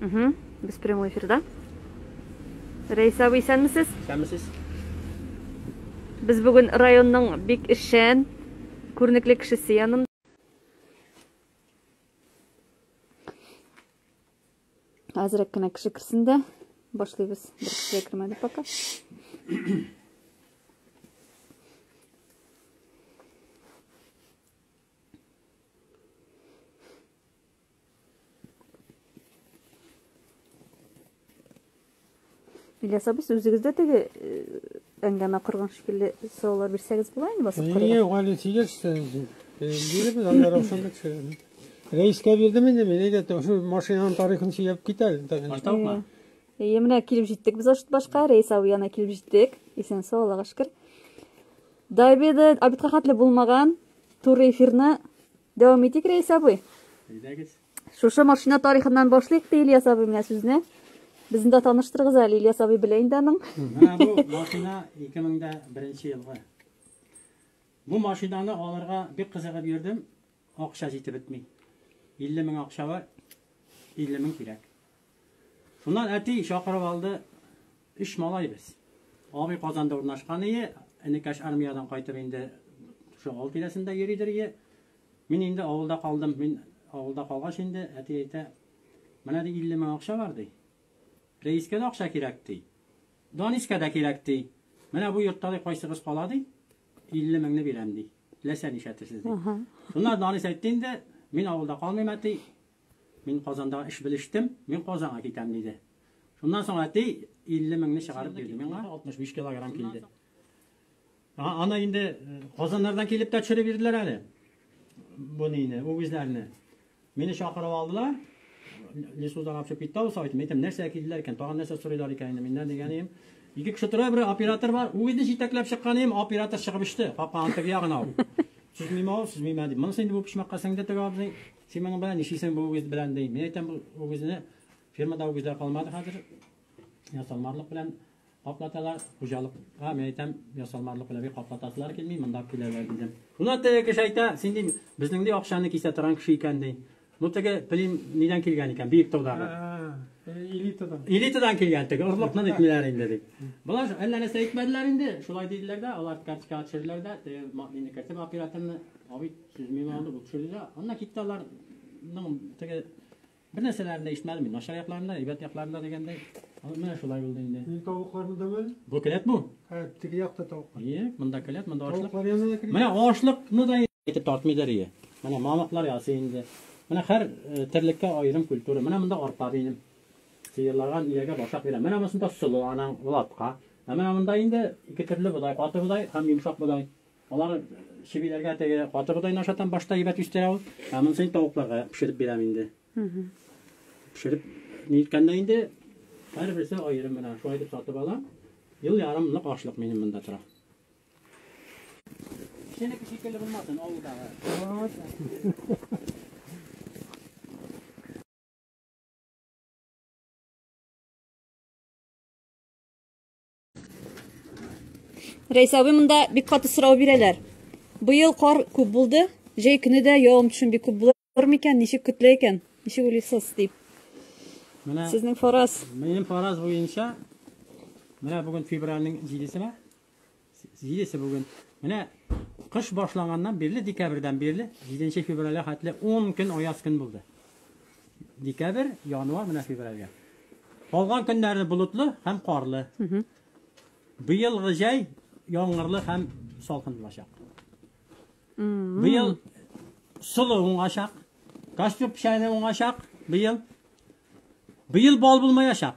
Угу. Без прямой эфирда. Рәйсә абый, исәнмесез? Исәнмесез. Без бүген районның бик эшчән, күренекле кешесе янында. Азрак кына кеше керсен дә башлыйбыз. Бер кеше кермәде пока. Ильяс абый, үзегез дә теге әңгәмә корган шикелле сораулар бирсәгез була инде басып карыйк. Нигә гали тигез сенсин? Биребез анда Равшанбек сөйләде. Рәискә бирдем инде мин, әйдә, шул машинаның тарихын сөйләп кит әле. Баштаукмы? Әйе, менә килеп җиттек без ашыт башка, Рәис абый янына килеп җиттек. Исән сау, Аллага шөкер. Дайбеды, абитка хәтле булмаган, туры эфирны Дәвам итик, Рәис абый. Әйдәгез. Шушы машина тарихыннан башлыйк ди Ильяс абый менә сүзне. Безне дә таныштырыгыз әле, Ильяс абый белә инде аның. Менә бу машина 2001 елгы. Бу машинаны алырга бик кызыгып йөрдем. Акча җитеп бетми. 50 мең акча бар. 50 мең кирәк. Шуннан әти чакырып алды, өч малай без. Абый Казанда урнашкан ие, энекәш армиядән кайтып инде шул авыл тирәсендә йөридер ие. Мин инде авылда калдым, мин авылда калгач инде әти әйтә, менә ди 50 мең акча бар ди. Рәискә дә акча кирәк ди. Данискә дә кирәк ди. Менә бу йортта ди кайсыгыз кала ди, 50 меңне бирәм ди. Теләсә нишләтесез ди. Шуннан Данис әйтте инде, мин авылда калмыйм әти, Мин Казанда эш белештем, мин Казанга китәм, диде. Шуннан соң әти 50 меңне чыгарып бирде миңа. 65 килограмм килде. А, аны инде э, Казаннардан килеп тә төшереп бирделәр әле. Бу нине, үгезләрне. Мине чакырып алдылар. Лесудан апчып китте ул сайтым. Әйтәм, нәрсә килделәр икән? Тагын нәрсә сорыйлар икән инде миннән дигән идем. Ике кеше тора, бер оператор бар. Үгезне җитәкләп чыккан идем, оператор чыгып иште. Капканың теге ягына ул. Сүзмиме ул, сүзмиме дип. Монысы инде бу почмакка сеңде теге абзый. Син моның белән нишлисең бу үгез белән ди. Мин әйтәм, бу үгезне фермада үгезләр калмады хәзер. Ясалмарлык белән каплаталар. Хуҗалыкка мин әйтәм, ясалмарлык белән бик каплатасылар килми, монда киләләр дидем. Шуна теге кеше әйтә, син дим, безнең ди акчаны кисә торган кеше икән ди. Бу теге Плим нидән килгән икән, биек таудагы. Элитадан. Элитадан килгән теге, орлыкны дитләр инде ди. Болар әллә нәрсә әйтмәделәр инде, шулай диделәр дә, алар карточкага төшерделәр дә, теге мине кертеп операторны, абый Сез миңа аны бу төшердегез. Аннан китте аларның теге бер нәрсәләрен дә ишетмәдем мин. Начар якларында, әйбәт якларында дигәндәй. Аны менә шулай булды инде. Мин тавыкларны да мен. Бу келәт бу. Һә, теге якта тавыклар. Ие, монда келәт, монда ашлык. Тавыклар янына да кирәк. Менә ашлыкны да итеп тартмыйдыр ие. Менә мамыклар ясы инде. Менә һәр э, терлеккә аерым культура. Менә монда арпа минем. Сыерларга иягә башак бирә. Менә монда солы анаң латка. Ә менә монда инде ике төрле бодай, каты бодай һәм йомшак бодай. Алар чебиләргә теге каты бодайны ашатам, башта әйбәт үстерә ул. Ә монысын тавыкларга пешереп бирәм инде. Пешереп ниткәндә инде һәрберсе аерым гына шулай дип сатып алам. Ел ярым нык ашлык минем монда тора. Сенеке шикелле булмасын авылдагы. Рәйсә абый, монда бик каты сорау бирәләр. Быел кар күп булды, җәй көне дә явым төшем бик күп булыр микән, ничек көтелә икән? Ничек уйлыйсыз дип. Менә сезнең фараз. Минем фараз буенча менә бүген февральнең 7-сенә 7-се бүген. Менә кыш башланганнан бирле декабрьдән бирле 7 февральгә хәтле 10 көн аяз көн булды. Декабрь, январь, менә февральгә. Калган көннәре болытлы һәм карлы. Быелгы җәй яңгырлы һәм салкын булачак. Быел солы уңачак, костюм печәне уңачак быел. Быел бал булмаячак.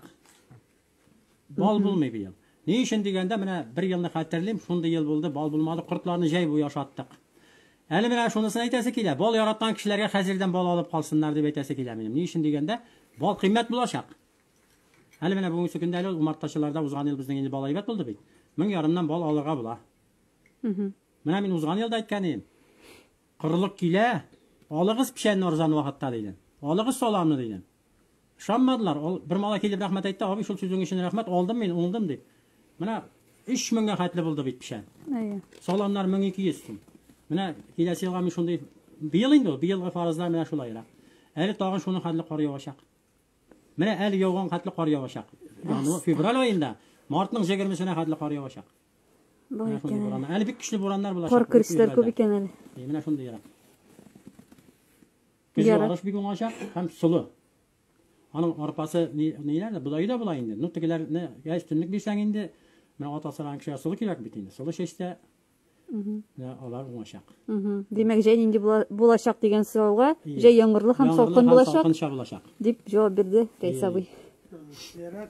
Бал булмый быел. Ни өчен дигәндә, менә бер елны хәтерлим, шундый ел булды, бал булмады, кортларны җәй буе ашаттык. Әле менә шунысын әйтәсе килә, бал яраткан кешеләргә хәзердән бал алып калсыннар дип әйтәсе килә минем. Ни өчен дигәндә, бал кыйммәт булачак. Әле менә бүгенге көндә әле умартачыларда узган ел безнең инде бал әйбәт булды бит. Мең ярымнан бал алырга була. Менә мин узган елда әйткән идем. Корылык килә, алыгыз печәнне арзан вакытта, дидем. Алыгыз саламны, дидем. Ышанмадылар. Ул бер малай килеп рәхмәт әйтте, Абый, шул сүзең өчен рәхмәт, алдым мин, уңдым, дип. Менә өч меңгә хәтле булды бит печән. Әйе. Саламнар 1200 сум. Менә киләсе елга мин шундый, быел инде ул, быелгы фаразлар менә шулайрак. Әле тагын шуның хәтле кар явачак. Менә әле яуган хәтле кар явачак. Январь, февраль аенда, мартның 20-сенә хәтле кар явачак. Бар Менә шундый икән әле. бураннар. Әле бик көчле бураннар булачак. Кар көрисләр күп икән әле. Е, Менә шундый ерак. Көзге Ярак. арыш бик уңачак һәм солы. Аның арпасы ни- ниләр дә, бодае да була инде. Ну, тегеләрне гә өстенлек бирсәң инде, менә ат асраган кешегә солы кирәк бит инде. Солы чәчтә Мгм. менә алар уңачак. Мгм. Димәк, җәй нинди була- булачак дигән сорауга, Ие. җәй яңгырлы һәм Яңгырлы салкын булачак, салкынча булачак. дип җавап бирде Рәис Ие. абый. Ярак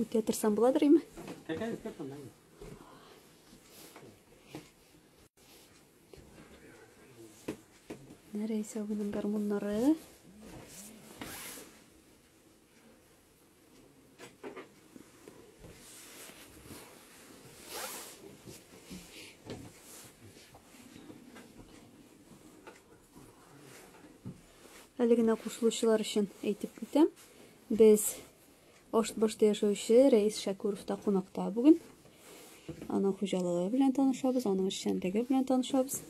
Үтә торсам буладыр име? Нәрәйсә минем гармуннары. Әле генә кушылучылар өчен әйтеп үтәм. Без Аштбашта яшәүче Рәис Шәкүровта кунакта бүген. Аның хуҗалыгы белән танышабыз, аның эшчәнлеге белән танышабыз.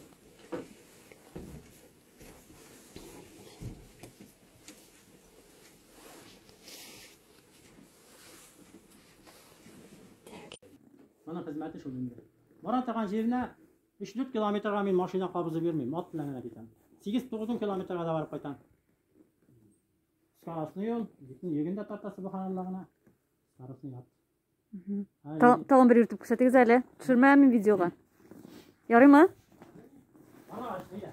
Моның хезмәте шул инде. Марат аган җиренә Өч-дүрт километрга мин машина кабызып йөрмим, ат белән генә китәм. Сигез-тугыз километрга да барып кайтам. Скоростный юл, битне йөген дә тарта субханалла гына. Скоростный ат. Талын бер йөртеп күрсәтегез әле. Төшермәмме видеога? Ярыймы? Ана, әйдә.